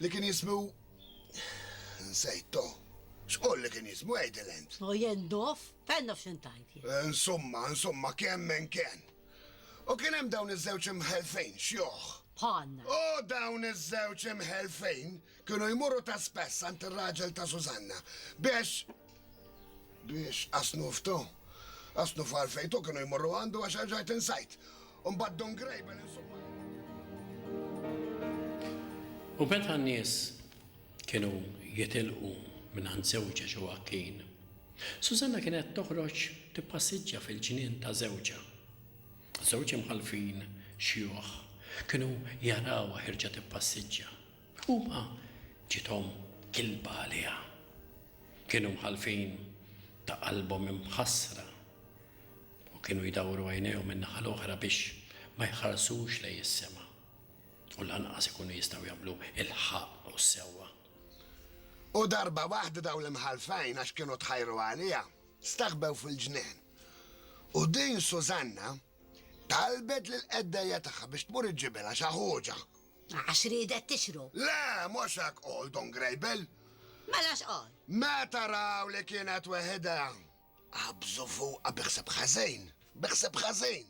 Li kien jismu nsejt to. X'qol li kien jismu għidil int? O jien dof? Fejn naf x'int tgħid jien? Insumma, insumma, kemm minn kien. U kien hemm dawn iż-żewġ imħelfin, xjuħ. Bħalna. U dawn iż-żewġ imħelfin kienu jmorru ta' spess għand ir-raġel ta' Sużanna biex biex qasnuf to. Qasnuf għalfejn to kienu jmorru għandu għax erġajt insajt. U mbagħad Don Grable insomma. U meta n-nies kienu jitilqu mingħand żewġha Ġoakkin, Sużanna kienet toħroġ tippassiġġja fil-ġnien ta' żewġha. Żewġ imħallfin xjuħ kienu jarawha ħierġa tippassiġġja. Huma ġiethom kilba għaliha. Kienu mħallfin ta' qalbhom imħassra. u kienu jdawru għajnejhom in-naħa l-oħra biex ma jħarsux lejn is-sema u lanqas ikunu jistgħu jagħmlu l-ħaqq u s-sewwa. U darba waħda dawn l-imħallfin, għax kienu tħajru għaliha, staħbew fil-ġnien. U din Sużanna talbet lill-qeddejja tagħha biex tmur iġġibilha xi ħuġa. Għax riedet tixru. Le, mhux hekk qol Don Grejbel. Mela x'qol? Meta raw li kienet weħidha, Qabżu fuqha bi ħseb ħażin, bi ħseb ħażin!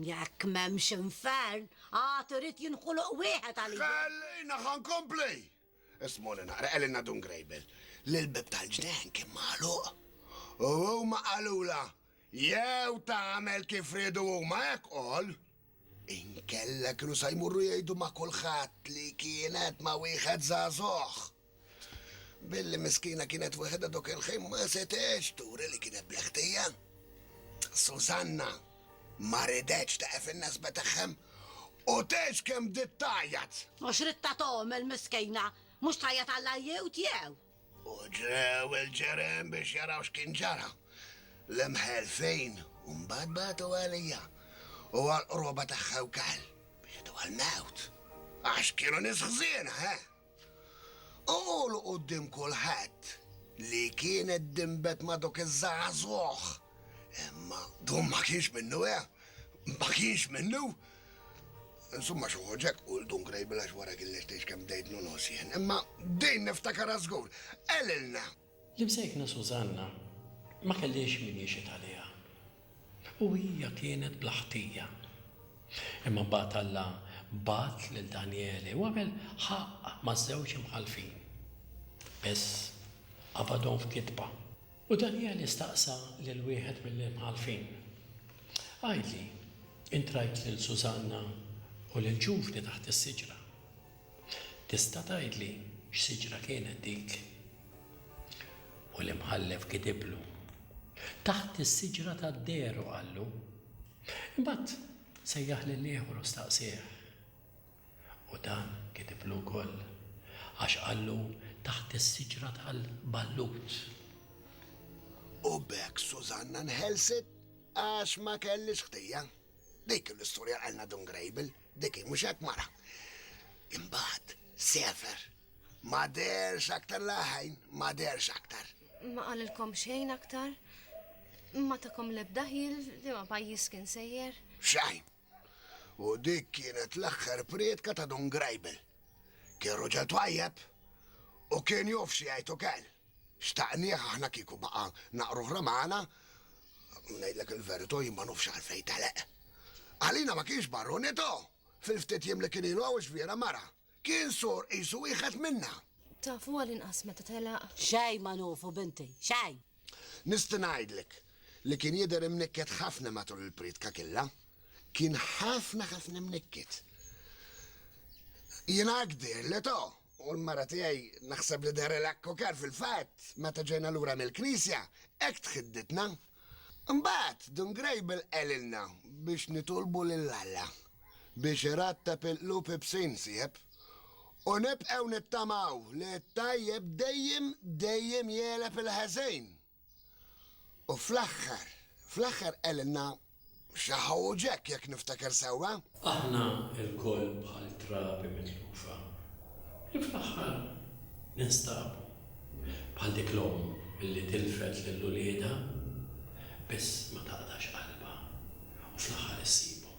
Jekk m'hemmx infern, għad irid jinħoloq wieħed għalija. Ħallina ħa nkompli! Ismuni naqra, qegħlilna Dun Grejbel li l-bieb tal-ġnejn kien magħluq. U huma qalulha, jew tagħmel kif riedu huma hekk qol, inkella kienu sa jmorru jgħidu ma' kulħadd li kienet ma' wieħed żagħżugħ. Billi miskina kienet weħedha dok il-ħin ma setgħetx turi li kienet bla ħtija. Susanna ma ridetx teqef in-nesba tagħhom u tgħix kemm bdiet tgħajjat. U x'ridtha tagħmel miskina? Mhux tgħajjat għall-għajjiewt jew? U ġew il-ġerien biex jaraw x'kien ġara. L-imħelfin mbagħad bagħtu għalija u għall-qruba tagħha wkoll biex jidhru għall-mewt. Għax kienu nies ħżiena, eh! U qulu quddiem kulħadd li kienet dinbet ma' dawk iż-żagħżugħ. Imma dun ma kienx minnu, eh! Ma kienx minnu! Insumma xi ħoġ hekk qul dun Grejbil għax wara kien lest jgħix kemm bdejtnu nogħos jien. Imma din niftakarha żgur. Qelilna! L-imsejkna Sużanna ma kellhiex min jixhed għaliha u hija kienet bla ħtija. Imma mbagħad Alla bagħat lil Danjeli u għamel ħaqq maż-żewġ imħallfin. Biss, qabadhom f'gidba. U Danjeli staqsa lil wieħed mill-imħallfin, Għidli, int rajt lil Sużanna u lill-ġuvni taħt is-siġra? Tista' tgħidli x'siġra kienet dik? U l-imħallef kitiblu, Taħt is-siġra tad-dehru, qallu. Imbagħad sejjaħ lil ieħor u staqsieh. U dan kitiblu wkoll, għax qallu taħt is-siġra tal-ballut. U b'hekk Sużanna nħelset għax ma kellhiex ħtija. Dik l-istorja qalna Dun Grejbel. Dik hi, mhux hekk mara? Imbagħad sefer. Ma derx aktar laħajn, ma derx aktar. Ma qalilkom xejn aktar? Ma takom lebda ħil li ma pajjiż kien sejjer? Xajn. U dik kienet l-aħħar prietka ta' Don Grajbel. Kien ruġel twajjeb u kien jofx jgħid ukel. Xtaqnieh aħna kieku baqa' naqra oħra magħna, u ngħidlek il-verito' jien ma nofx għalfejn tagħlaq. Għalina ma kienx barunito', fil-ftit jiem li kien ilu hawn x'vira mara. Kien sur qisu wieħed minna. Tafu għall-inqas meta telaq? Xejn ma nufu binti, xejn! Nisti' ngħidlek li kien jidher imnikket ħafna matul il-prietka killa. Kien ħafna ħafna mnikket. Jien hekk dirli to'. U l-mara tiegħi naħseb li dehrilha kkokar fil-fatt meta ġejna lura mill-knisja, hekk tħidditna. Imbagħad Dun Grejbel qalilna biex nitolbu lil Alla biex iratteb il-qlub ibsin, sieħeb. U nibqgħu nittamaw li t-tajjeb dejjem, dejjem jegħleb il-ħażin. U fl-aħħar, fl-aħħar qegħlilna xi Ħu Ġekk, jekk niftakar sewwa. Aħna lkoll bħal trabi mitlufa li fl-aħħar ninstabu, bħal dik l-omm li tilfet lil uliedha biss ma taqtax qalbha u fl-aħħar issibhom.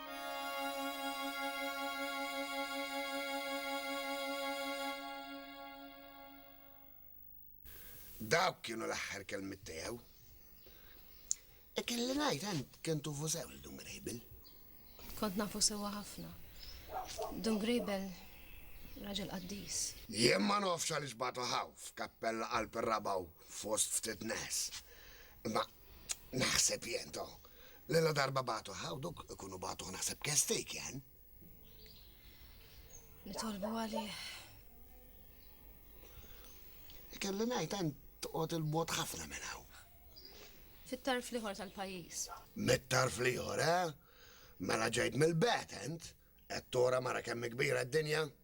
Dawk kienu l-aħħar kelmiet tiegħu. E kelli ngħid għand kien tufu sew il Dun Grejbel. Kont nafu sewwa ħafna. Dun Grejbel raġel qaddis. Jien ma nofx għaliex batu ħaw f'kappella qalb ir-rabaw fost ftit nes. Imma Naħseb jien to. Li la darba batu ħaw dok ikunu batu naħseb kestejk jen. Nitolbu għalih. Kelli ngħid hemm toqgħod il-mod ħafna minn hawn. Fit-tarf liħor tal-pajjiż. Mit-tarf liħor, eh? Mela ġejt mill-betent, qed tora mara kemm kbira d-dinja.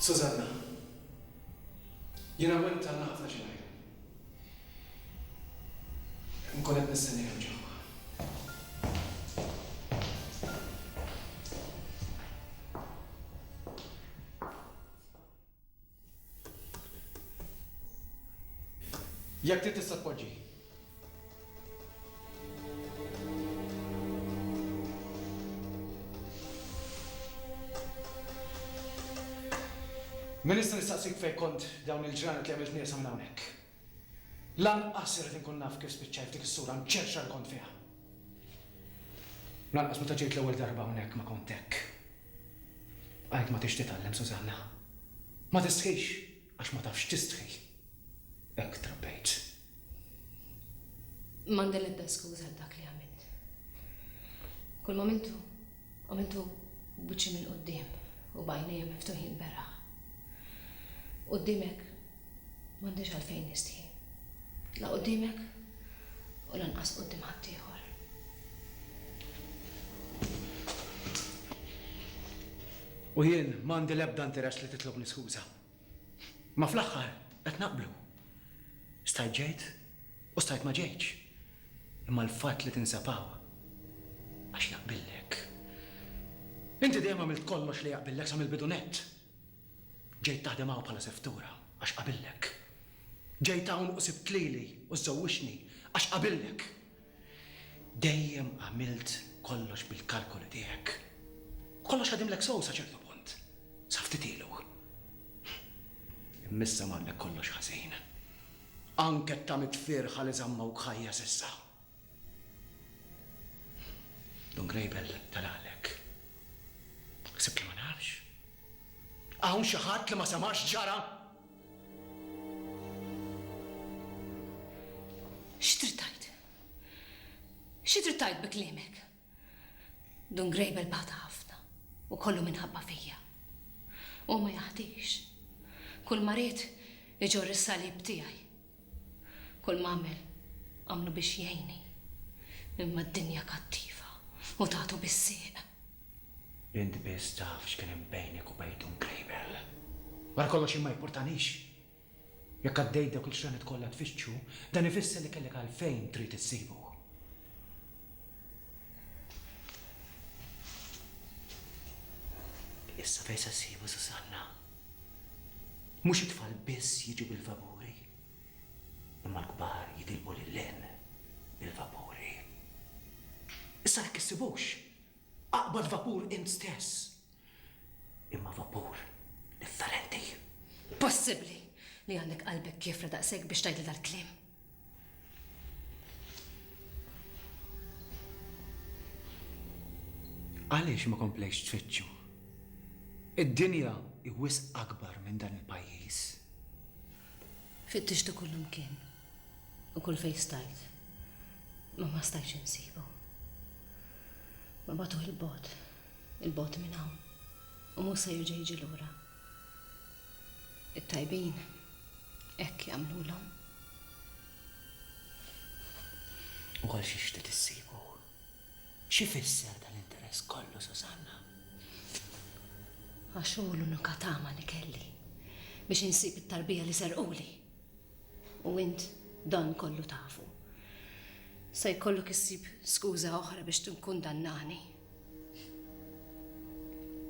Susanna, Jien hawnhekk b'talna ħafna xi ngħid. Inkun qed nistenni hemm ġewwa. Jekk trid tista' tpoġġi. Min nista' nistaqsik fejn kont dawn il-ġranet li għamilt nieqsa minn hawnhekk? Lanqas irrid inkun naf kif spiċċajt f'dik is-sura mċerċra li kont fiha. Lanqas meta ġejt l-ewwel darba hawnhekk ma kont hekk. Bqajt ma tix titgħallem Susanna. Ma tistħix għax ma tafx tistħi. Hekk trabbejt. M'għandi l-ebda skuża għal dak li għamilt. Kull m'għamiltu, għamiltu b'wiċċi mill-quddiem u b'għajnejja miftuħin beraħ. Quddiemek M'għandix għalfejn nistħi. La quddiemek u lanqas quddiem ħaddieħor. U jien m'għandi l-ebda interess li titlobni skuża. Ma fl-aħħar qed naqblu. Stajt ġejt u stajt ma ġejtx. Imma l-fatt li tinsab hawn għax jaqbillek. Inti dejjem għamilt kollox li jaqbillek sa mill-bidu nett. Ġejt taħdem hawn bħala seftura għax qabillek. Ġejt hawn u sibt lili u żżewwiġtni għax qabillek. Dejjem għamilt kollox bil-kalkoli tiegħek. U kollox ħadimlek sew sa ċertu punt, sa ftit ilu. Imma issa marlek kollox ħażin. Anke t-tamiet fierħa li żammawk ħajja s'issa. Don Grejbel telaqlek. Ħsibtni ma nafx? Hawn xi ħadd li ma sema' x'ġara? X'trid tgħid? Xi trid tgħid bi kliemek? Dun Grejbel bata ħafna u kollu minħabba fija. Hu ma jaħdix. Kull ma ried iġorr is-salib tiegħi. Kull m'għamel għamlu biex jgħinni. Imma d-dinja kattiva u tagħtu bis-sieq. Int biss taf x'kien hemm bejnek u bejn Dun Grejbel. Wara kollox jien ma jippurtanix. Jekk għaddejt dawk il-xranet kollha tfittxu, dan ifisser li kellek għalfejn trid issibu. Issa fejn se ssibu Susanna? Mhux it-tfal biss jiġu bil-vapuri, imma l-kbar jitilqu lil hinn bil-vapuri. Issa jekk issibux, aqbad vapur int stess Imma vapur differenti. Possibbli li għandek qalbek kiefra daqshekk biex tgħidli dal-kliem? Għaliex ma komplejtx tfittxu? Id-dinja hi wisq akbar minn dan il-pajjiż. Fittixtu kullimkien u kull fejn stajt, imma ma stajtx insibu. Bagħtuh 'il bogħod. 'il bogħod minn hawn u mhux se jerġa' jiġi lura. It-tajbin hekk jagħmlulhom. U għal xiex trid issibu? X'ifisser dan l-interess kollu, Susanna? Għax hu l-unika tama li kelli biex insib it-tarbija li serquli. U int dan kollu tafu. Se jkollok issib skuża oħra biex tinkundannani.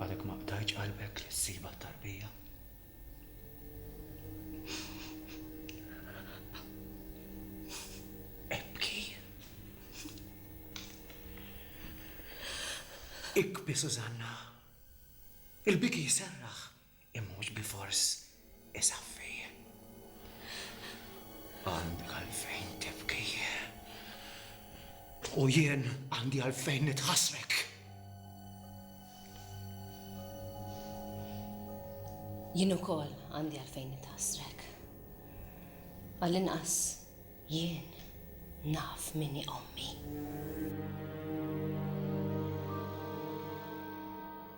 Għadek ma qtajtx qalbek li ssibha t-tarbija? Ibki. Ikbi, Sużanna. Il-biki jserraħ. Imma mhux bilfors isaffi. Għandek għalfejn tibki. U jien għandi għalfejn nitħassrek. Jien ukoll għandi għalfejn nitħassrek. Għall-inqas jien naf minni ommi.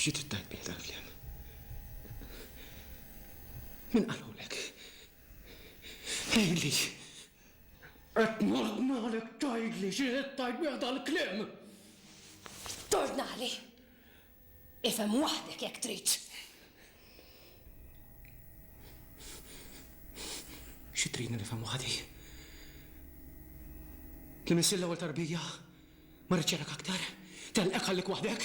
Xi trid tgħid bih dal-kliem? Min qalulek? Tgħidli! Qed nordnalek tgħidli xi trid tgħid bih dal-kliem! Tordnali? Ifhem waħdek jekk trid! Xi tridni nifhem waħdi? Li missir l-ewwel tarbija? Ma rridx arak aktar! Telqek ħallik waħdek!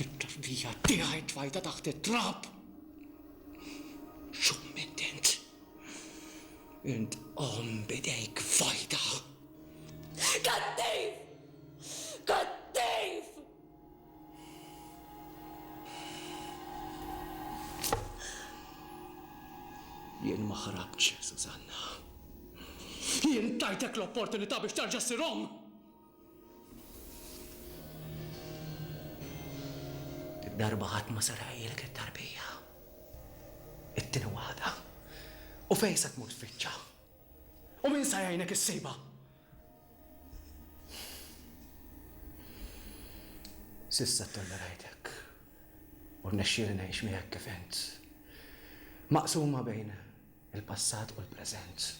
It-tarbija tiegħi tfajta taħt it-trab! Xumment int! Int omm b'idejk fajta! Kattiv! Kattiv! Jien ma ħrabtx, Susanna. Jien tajtek l-opportunità biex terġa' ssir omm! Dik darba ħadd ma sar għajjilek it-tarbija. It-tieni waħda. U fejn se tmur tfittxha? U min se jgħinek issibha? S'issa ttollerajtek u rnexxieli ngħix miegħek kif int, maqsuma bejn il-passat u l-preżent.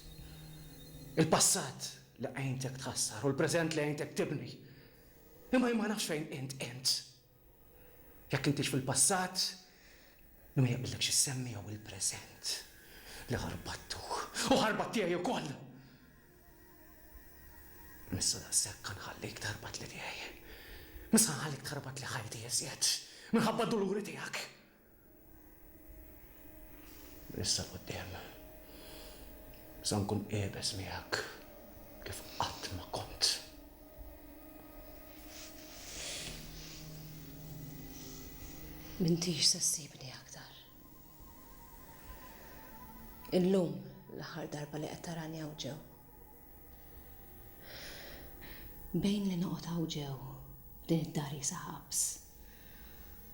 Il-passat li għintek tħassar u l-preżent li għintek tibni. Imma jien ma nafx fejn int int. Jekk intix fil-passat, min ma jaqbillek xi ssemmi jew il-preżent li ħarbattuh u ħarbat tiegħi wkoll! M'issa daqshekk ħanħallik tħarbatli tiegħi. M'issa ħanħallik tħarbatli ħajti iżjed minħabba d-duluri tiegħek. Issa quddiem. Sa nkun qiebeż miegħek kif qatt ma kont. Mintix se ssibni aktar. Illum l-aħħar darba li qed tarani hawn ġew. Bejn li noqgħod hawn ġew din id-dar jisa ħabs.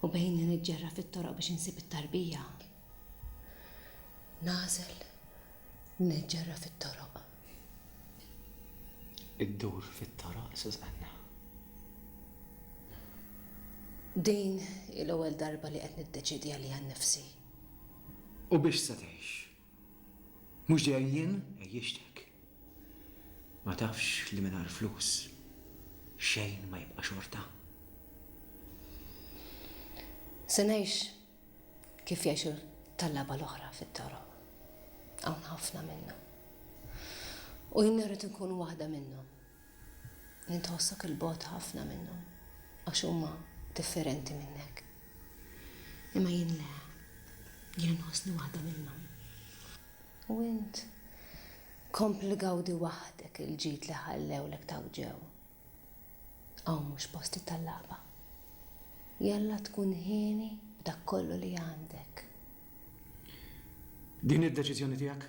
U bejn li niġġerra fit-toroq biex insib it-tarbija, nagħżel li niġġerra fit-toroq. Iddur fit-toroq, Susanna. Din hi l-ewwel darba li qed niddeċiedi għalija nnifsi. U biex se tgħix? Mhux dejjem jien għejjixtek. Ma tafx li mingħajr flus xejn ma jibqa' xorta? Se ngħix kif jgħixu t-tallaba l-oħra fit-toroq. Hawn ħafna minna. U jien irrid inkun waħda minnhom. li tħossok 'il bogħod ħafna minnhom għax huma differenti minnek. Imma jien le, jien inħossni waħda minnhom. U int kompli gawdi waħdek il-ġid li ħallewlek taw ġew. Hawn mhux postit tal-lagħba. Jalla tkun hieni b'dak kollu li għandek. Din hi d-deċiżjoni tiegħek.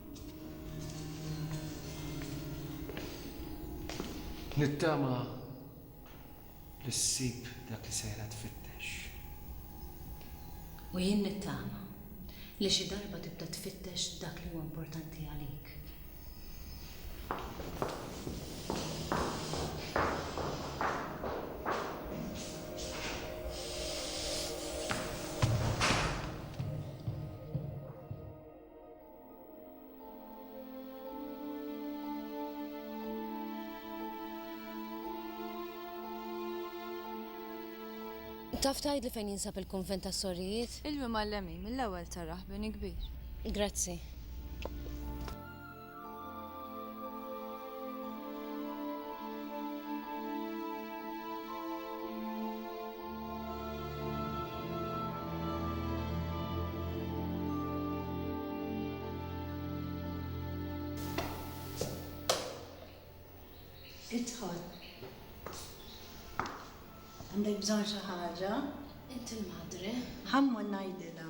Nittama li ssib dak li sejra tfittex. U jien nittama li xi darba tibda tfittex dak li huwa importanti għalik. Taf tgħidli fejn jinsab il-kunvent tas-sorijiet? Ilwi mal-lemin mill-ewwel tarah bini kbir. Grazzi. Idħol. Għandek bżonn xi ħaġa? Inti l-madre. Ħammu ngħidilha.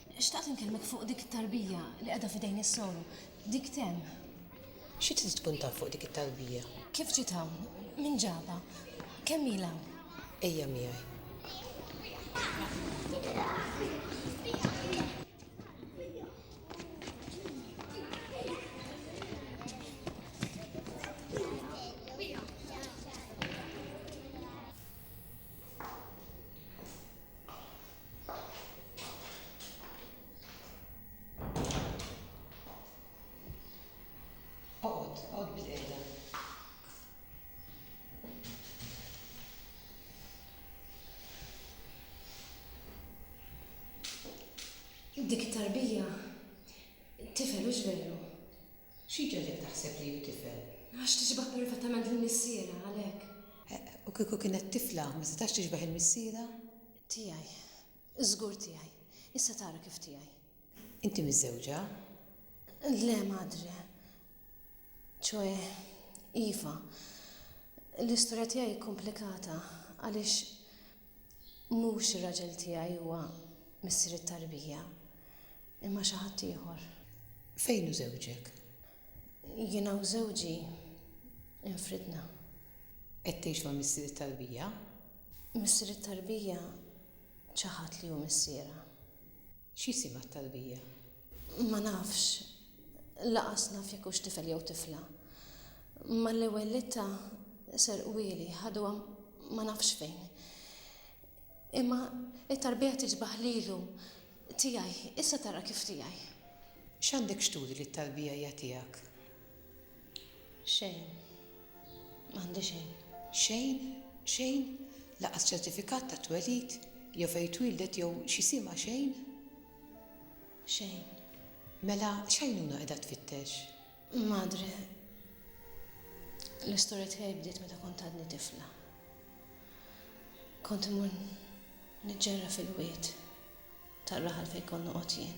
Xtaqt inkellmek fuq dik it-tarbija li qiegħda f'idejn is-soru. Dik temm. Xi trid tkun taf fuq dik it-tarbija? Kif ġiet hawn? Min ġabha? Kemm ilha hawn? Ejja miegħi. Oqgħod, oqgħod bil-qiegħda. Dik it-tarbija tifel hux veru? Xi ġagħlek taħseb li hu tifel? Għax tixbah perfatament lil missierha, għalhekk. U kieku kienet tifla ma setax tixbah il-missierha? Tiegħi. Żgur tiegħi. Issa tara kif tiegħi. Inti miżżewġa? Le, madre. Ċoe, iva. L-istorja tiegħi komplikata għaliex mhux ir-raġel tiegħi huwa missier it-tarbija, imma xi ħadd ieħor. Fejn hu żewġek? Jiena u żewġi infridna. Qed tgħix ma' missier it-tarbija? Missier it-tarbija ċaħad li hu missierha. X'jisimha t-tarbija? Ma nafx. Laqas naf jekk hux tifel jew tifla. Mal-ewwel litta serqwieli, ħaduha ma nafx fejn. Imma t-tarbija tiġbaħ lilu. Tiegħi, issa tara kif tiegħi. X'għandek x'turi li t-tarbija hija tiegħek? Xejn. M'għandi xejn. Xejn? Xejn? Lanqas ċertifikat ta' twelid, jew fejn twieldet jew xi sima xejn? Xejn. Mela x'għajnuna qiegħda tfittex? Madre, l-istorja tiegħi bdiet meta kont għadni tifla. Kont imur niġġerra fil-wied tar-raħal fejn kont noqgħod jien.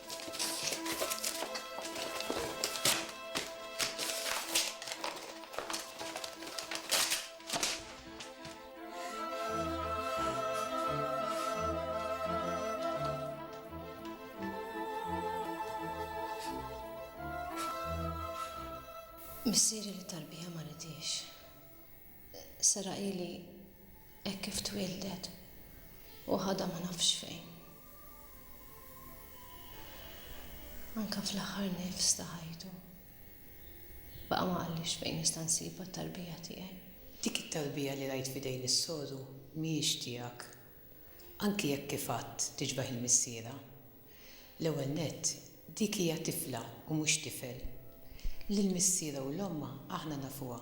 Missieri li tarbija ma ridiex. Sara ili hekk kif twildet u ħadha ma nafx fejn. Anke fl-aħħar nifs ta' ħajtu, baqa' ma qallix fejn nista' nsibha t-tarbija tiegħi. Dik it-tarbija li rajt f'idejn is-soru mhijiex tiegħek, anki jekk kif għedt tixbeh il-missierha. L-ewwel nett, dik hija tifla u mhux tifel. Lill-missierha u l-ommha aħna nafuha,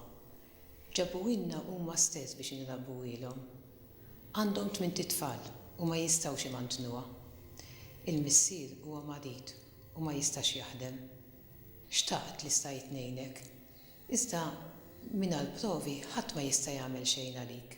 Ġabuhielna huma stess biex inrabbuhielhom. Għandhom tmint itfal u ma jistgħux imantnuha. Il-missier huwa marid u ma jistax jaħdem. Xtaqt li stajt ngħinek. Iżda mingħal provi ħadd ma jista' jagħmel xejn għalik.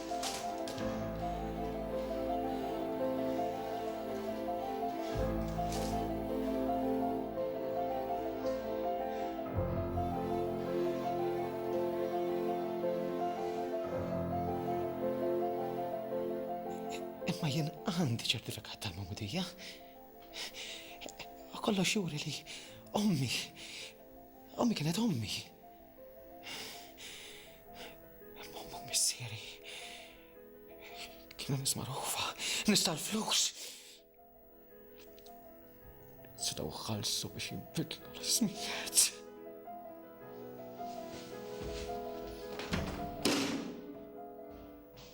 għandi ċertifikat tal-mamudija. Kollox xuri li ommi, ommi kienet ommi. Għall-mom u missieri. Kienu nis marufa, nis tal-flus. Setaw xalsu biex jibbidlu l-ismijiet.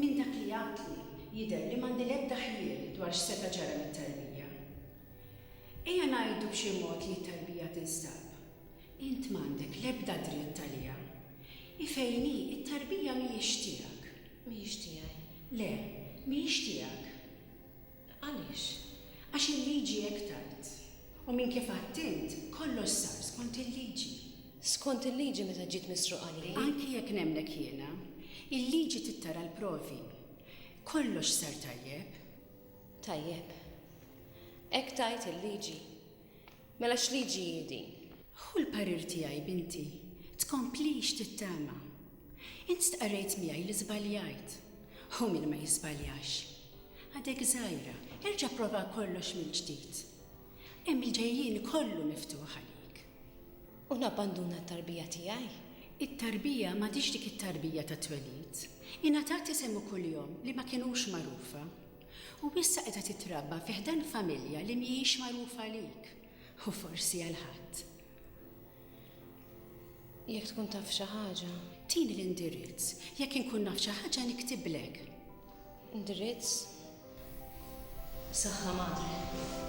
Minn dak li għadtli jidher li m'għandi l-ebda ħjiel dwar x'seta' ġara lit-tarbija. Ejja ngħidu b'xi mod li t-tarbija tinstab. Int m'għandek l-ebda dritt għaliha. Hi fejn hi, it-tarbija mhijiex tiegħek. Mhijiex tiegħi. Le, mhijiex tiegħek. Għaliex? Għax il-liġi hekk tgħid. U minn kif għidt int, kollox sar skont il-liġi. Skont il-liġi meta ġiet misruqa li hi? Anki jekk nemmnek jiena, il-liġi trid tara l-provi. Kollox sar tajjeb. Tajjeb. Hekk tgħid il-liġi. Mela x'liġi hi din? Hu l-parir tiegħi, binti. Tkomplix tittama. Int stqarrejt miegħi li żbaljajt. Hu min ma jiżbaljax. Għadek żgħira, erġa' pprova kollox mill-ġdid. Hemm il-ġejjieni kollu miftuħ għalik. U nabbanduna t-tarbija tiegħi? It-tarbija m'għadhiex dik it-tarbija tat-twelid. Ingħatat isem u kuljom li ma kinux magħrufa. U issa qiegħda titrabba fi ħdan familja li mhijiex magħrufa għalik u forsi għal ħadd. Jekk tkun taf xi ħaġa. Tini l-indirizz, jekk inkun naf xi ħaġa niktiblek. Indirizz? Saħħa madre.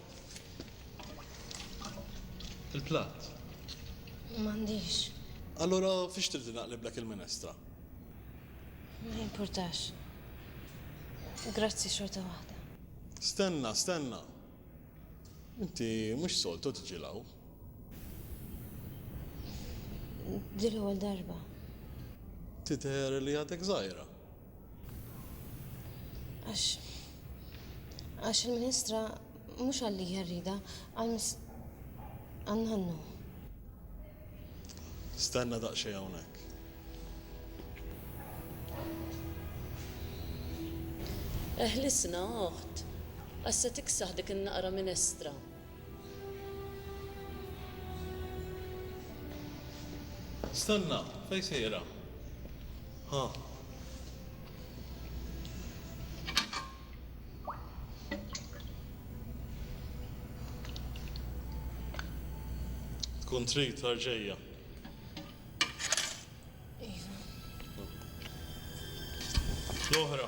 Il-platt? M'għandix. Allura fiex trid li naqliblek il-minestra? Ma jimpurtax. Grazzi xorta waħda. Stenna, stenna! Inti mhux soltu tiġi 'l hawn. Din l-ewwel darba. Tidher li għadek żgħira. Għax. Għax il-Ministra mhux għalli jarrida, għal għal nannu. Stenna daqsxejn hawnhekk. Eħlisna, oħt, għax se tiksaħ dik in-naqra minestra. Stenna, fejn sejra? Ha. Tkun trid tar ġejja. Iva. L-oħra.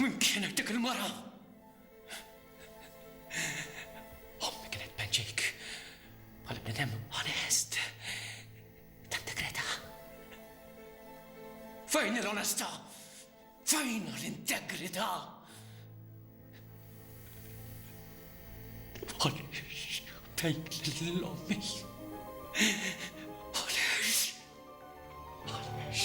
Min kienet dik il-mara? Ommi kienet penċejk. Għal bnedem onest. Tant kreta. Fejn l-onesta? Fejn l-integrità? Għaliex tgħid lill-ommi? Għaliex? Għaliex?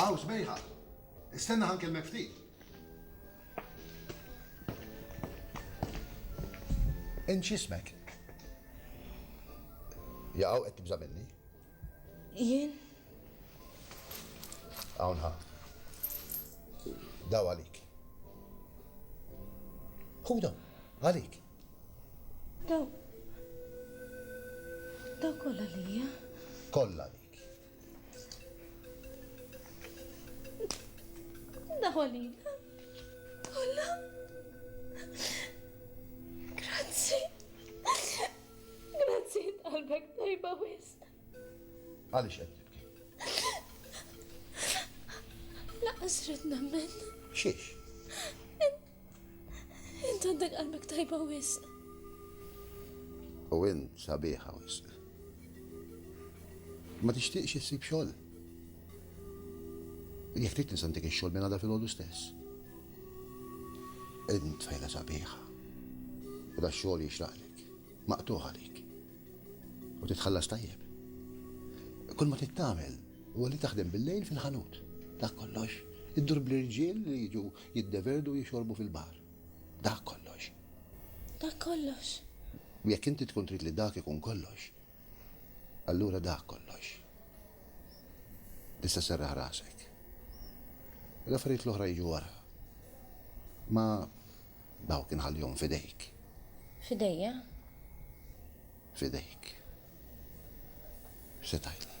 Aw, sbejħa. Istenna ħankellmek ftit. Int x'ismek? Jaqgħu qed tibża' minni? Jien? Hawn ħa. Daw għalik. Ħudhom, għalik. Daw. Daw kollha lija. Kollha għalik. Daw għalina. Kollha. Grazzi. Grazzi qalbek tajba wisq. Għaliex qed tibki? Lanqas rrid nemmen. Xiex? Int għandek qalbek tajba wisq. U int sabiħa wisq. Ma tixtieqx issib xogħol. Jekk trid nisa ntik ix-xogħol minn għadha filgħodu stess. Int fejla sabiħa. U da xogħol jixraqlek. maqtugħ għalik u titħallas tajjeb. Kull ma trid tagħmel huwa li taħdem bil-lejl fil-ħanut. Dak kollox. Iddur bl-irġiel li jiġu jiddeverdu u jixorbu fil-baħar. Dak kollox. Dak kollox. U jekk inti tkun trid li dak ikun kollox, allura dak kollox. Issa serraħ rasek. L-affarijiet l-oħra jiġu wara. Ma Dawk inħallihom f'idejk. F'idejja? F'idejk. Se tgħidli.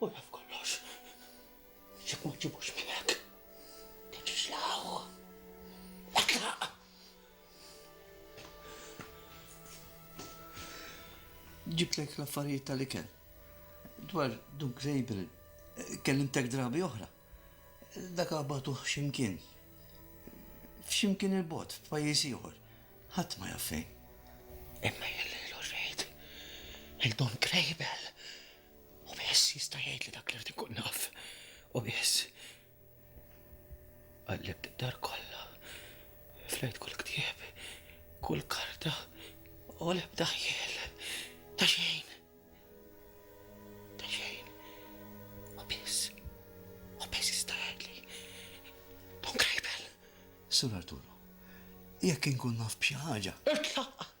U jaf kollox. Jekk ma ġġibux miegħek, tiġix l hawn. Etlaq! Ġibtlek l-affarijiet tal-ikel. Dwar Duk Grejbel, kellimtek drabi oħra. Dak għabatuh x'imkien. F'x'imkien il-bogħod, f'pajjiż ieħor. Ħadd ma jaf fejn. Imma jien lilu rrid. Lil Dun Grejbel. U biss jista' jgħid li dak l-art ikun naf. U biss. Qallibt id-dar kollha. Flejt kull ktieb, kull karta, u l-ebda ħjel. Ta' xejn. Ta' xejn. U biss. U biss jista' jgħid li. Don Krejbel. Sur Arturo, jekk inkun naf b'xi ħaġa. Itlaq!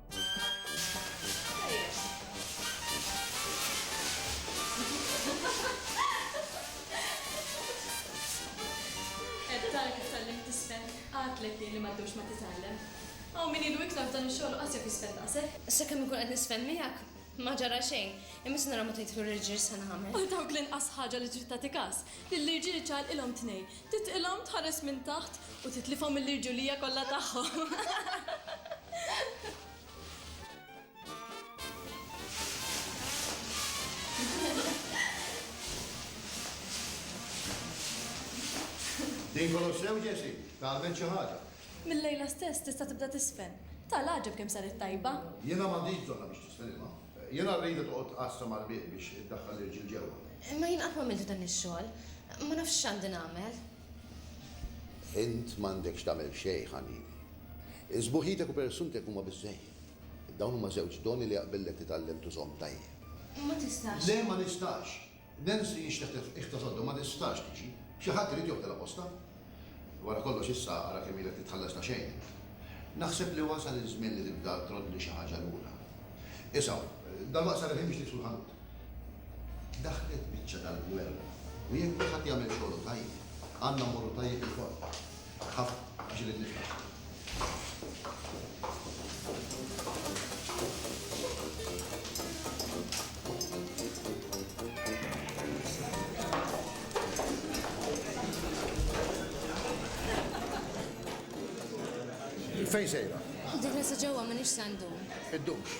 Qatlek jien li ma ddumx ma titgħallem. Hawn min ilu iktar f'dan ix-xogħol u qas jaf jisfen daqshekk. Sakemm inkun qed nisfen miegħek, ma ġara xejn, imma se nara meta jidħlu l-irġiel x'se nagħmel. Għal dawk l-inqas ħaġa li trid tagħti kas, lill-irġiel ċaqalqilhom tnejn, Titqilhom, tħares minn taħt u titlifhom mill-irġulija kollha tagħhom. Din kollox sew, Jessie? Tgħallmemt xi ħaġa? Mil-lejla stess tista' tibda tiżfen. Tara l-għaġeb kemm saret tajba! Jiena m'għandix bżonnha biex tiżfen imma. Jiena rrid li toqgħod tqassam għall-bieb biex iddaħħal l-irġiel ġewwa. Imma jien qatt m'għamiltu dan ix-xogħol. Ma nafx x'għandi nagħmel. Int m'għandekx tagħmel xejn, ħanini. Sbuħitek u persunek huma biżżejjed. Dawn huma żewġ doni li jaqbillek titgħallem tużhom tajjeb. Ma tistax. Le, ma nistax! Nancy nxteħtet iktar sodda ma tistax tiġi. Xi ħadd irid joħdilha postha. Wara kollox issa ara kemm ilek titħallas ta' xejn int. Naħseb li wasal iż-żmien li tibda troddli xi ħaġa lura. Isha, dalwaqt saret ħin biex niksbu l-ħanut. Daħlet biċċa tal-gwerra u jekk kulħadd jagħmel xogħlu tajjeb, għandna mmorru tajjeb ilkoll. Fejn sejra? Dik nisa ġewwa minix se ndum. Iddumx.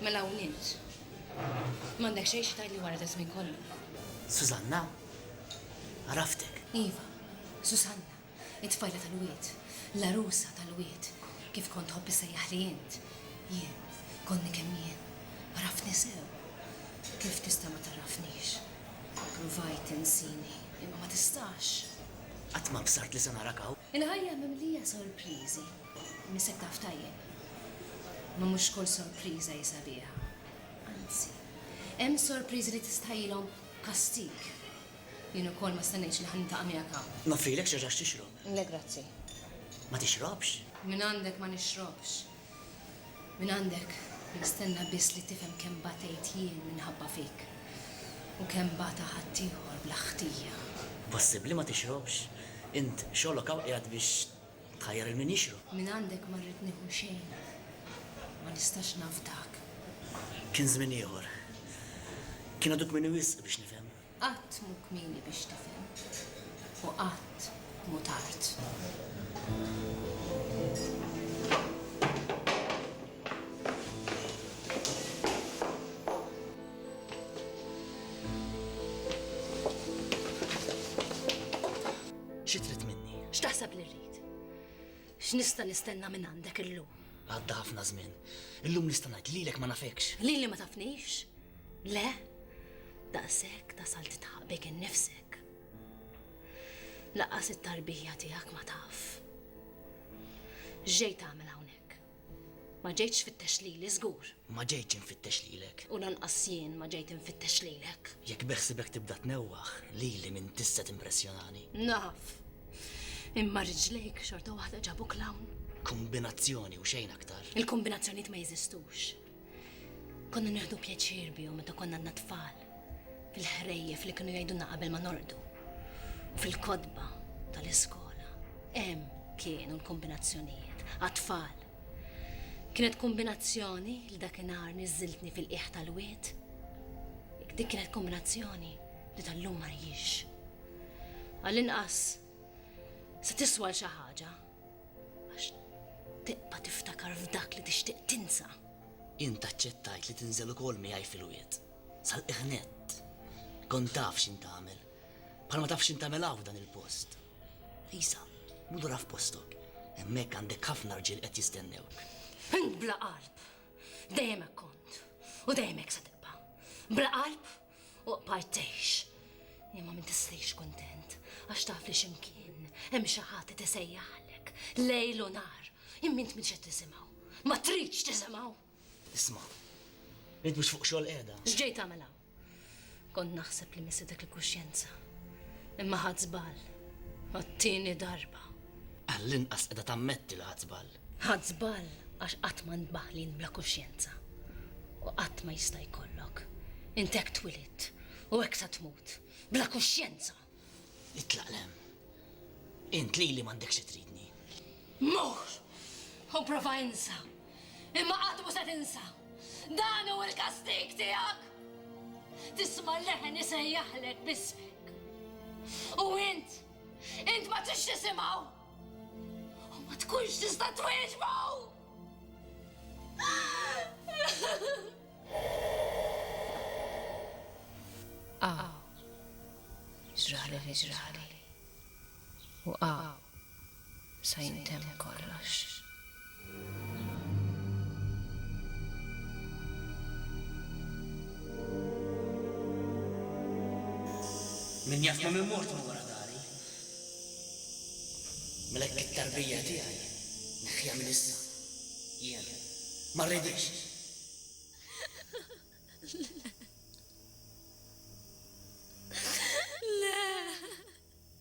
Mela hawn int. M'għandek xejn xi tgħidli wara daż-żmien kollu. Susanna? Għaraftek. Iva, Susanna, it-tfajla tal-wied, l-għarusa tal-wied, kif kont tħobb issejjaħli int. Jien, konni kemm jien, għaraftni sew. Kif tista' ma tagħrafnix? Kont provajt tinsini, imma ma tistax. Qatt ma bsart li se narak hawn. Il-ħajja mimlija sorpriżi, missek taf tajjeb. Imma mhux kull sorpriża hi sabiħa. Anzi, hemm sorpriżi li tistħajjilhom kastig. Jien ukoll ma stennejtx li ħa niltaqa' miegħek hawn. Noffrilek xi ħaġa x'tixrob? Le, grazzi. Ma tixrobx? Mingħandek ma nixrobx. Mingħandek nistenna biss li tifhem kemm batejt jien minħabba fik u kemm bata ħaddieħor bla ħtija. Possibbli ma tixrobx? Int xogħlok hawn qiegħed biex tħajjar lil min jixrob. Mingħandek ma rrid nieħu xejn. Ma nistax nafdak. Kien żmien ieħor. Kien għadu kmieni wisq biex nifhem. Qatt mhu kmieni biex tifhem u qatt mhu tard. Xi trid minni? X'taħseb li rrid? X'nista' nistenna minn għandek illum? Għadda ħafna żmien. Illum nista' ngħid lilek ma nafekx. Lili ma tafnix? Le, daqshekk tasal titħaq bik innifsek. Laqqas it-tarbija tiegħek ma taf. Ġejt tagħmel hawnhekk. Ma ġejtx fittex lili żgur. Ma ġejtx infittex lilek. U lanqas jien ma ġejt infittex lilek. Jekk beħsibek tibda tnewwaħ lili minn tista' timpressjonani. Naf. Imma riġlejk xorta waħda ġabuk l-hawn. Kombinazzjoni u xejn aktar. Il-kombinazzjonijiet ma jeżistux. Konna nieħdu pjaċir bihom meta konna għadna tfal, fil-ħrejjef li kienu jgħidulna qabel ma norqdu, u fil-kotba tal-iskola. Hemm kienu l-kombinazzjonijiet għat-tfal. Kienet kombinazzjoni li dakinhar niżżiltni fil-qiegħ tal-wied. Dik kienet kombinazzjoni li tal-lum ma rjiex. Għall-inqas se tiswa l xi ħaġa. Għax tibqa' tiftakar f'dak li tixtieq tinsa. Int aċċettajt li tinżel ukoll miegħi fil-wied. Sal-qiegħ nett. Kont taf x'int tagħmel. Bħalma taf x'int tagħmel hawn f'dan il-post. Isa, mur lura f'postok. Hemmhekk għandek ħafna rġiel qed jistennewk. Int bla qalb. Dejjem hekk kont. U dejjem hekk se tibqa'. Bla qalb Oqbad tgħix. Imma min tislix kuntent għax taf li x'imkien hemm xi ħadd qed isejjaħlek lejl u nhar. Imma int m'intx qed tisimgħu. Ma tridx tisimgħu. Isma', int mhux fuq xogħol qiegħda. X'ġej tagħmel hawn? Kont naħseb li missietek il-kuxjenza. Imma ħadt żball. Għat-tieni darba. Għall-inqas qiegħda tammetti li ħadt żball. Ħadt żball għax qatt ma int baħlin bla kuxjenza. U qatt ma jista' jkollok. Int hekk twilidt u hekk sa tmut. Bla kuxjenza! Itlaq 'l hemm. Int lili m'għandekx xi tridni. Mur! U prova insa. Imma qatt mhu se tinsa. Dan hu l-kastig tiegħek! Tisma' leħen isejjaħlek b'ismek. U int, int ma tridx tisimgħu! U ma tkunx tista' twieġbu! Aw, ġrali li ġrali. U aw, sa jintemm kollox. Min jaf ma' min mort minn wara dari. Mela hekk it-tarbija tiegħi neħħiha minn issa. Jien ma rridhiex. Le. Le.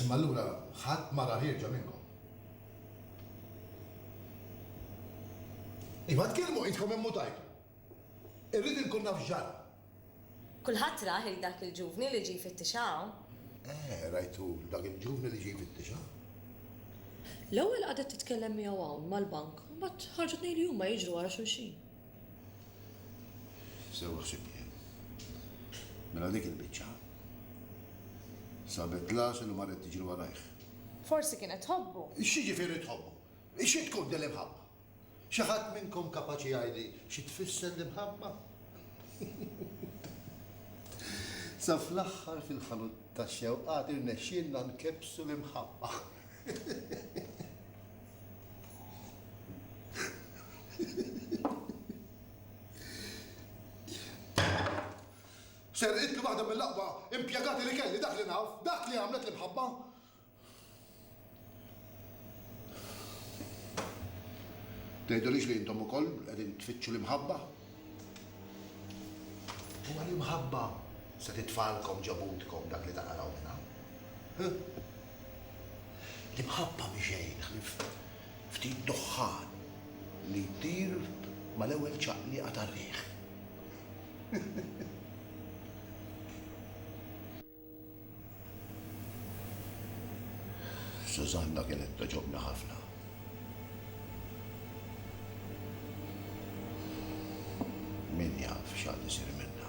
Imma allura ħadd ma ra ħierġa minnkom. Iva, tkellmu idkom immutajtu. Irrid inkun naf x'ġara. Kulħadd rah il dak il-ġuvni li ġie jfittixha hawn. Eh, rajtu l dak il-ġuvni li ġie jfittixha. L-ewwel qagħdet titkellem miegħu hawn mal-bank u mbagħad ħarġu tnejn li huma jiġru wara xulxin. Sewa ħsibt jien. Mela dik il-biċċa. Sabet l-għasel u marret tiġri warajh. Forsi kienet tħobbu. X'jiġifieri tħobbu? Xi tkun din l-imħabba? Xi ħadd minnkom kapaċi jgħidli xi tfisser l-imħabba? Sa fl-aħħar fil-ħanut tax-xewqat irnexxielna nkebbsu l-imħabba. Serqitli waħda mill-aqwa impjegati li kelli, dak li naf, dak li għamlet l-imħabba. Tgħidulix li intom ukoll qegħdin tfittxu l-imħabba? Huwa l-imħabba se titfalkom ġo butkom dak li taqalgħu minn hawn. L-imħabba mhi xejn ħlief ftit duħħan li jtir mal-ewwel ċaqliqa tar-riħ. Sużanna kienet togħġobni ħafna. Min jaf x'għad isir minnha.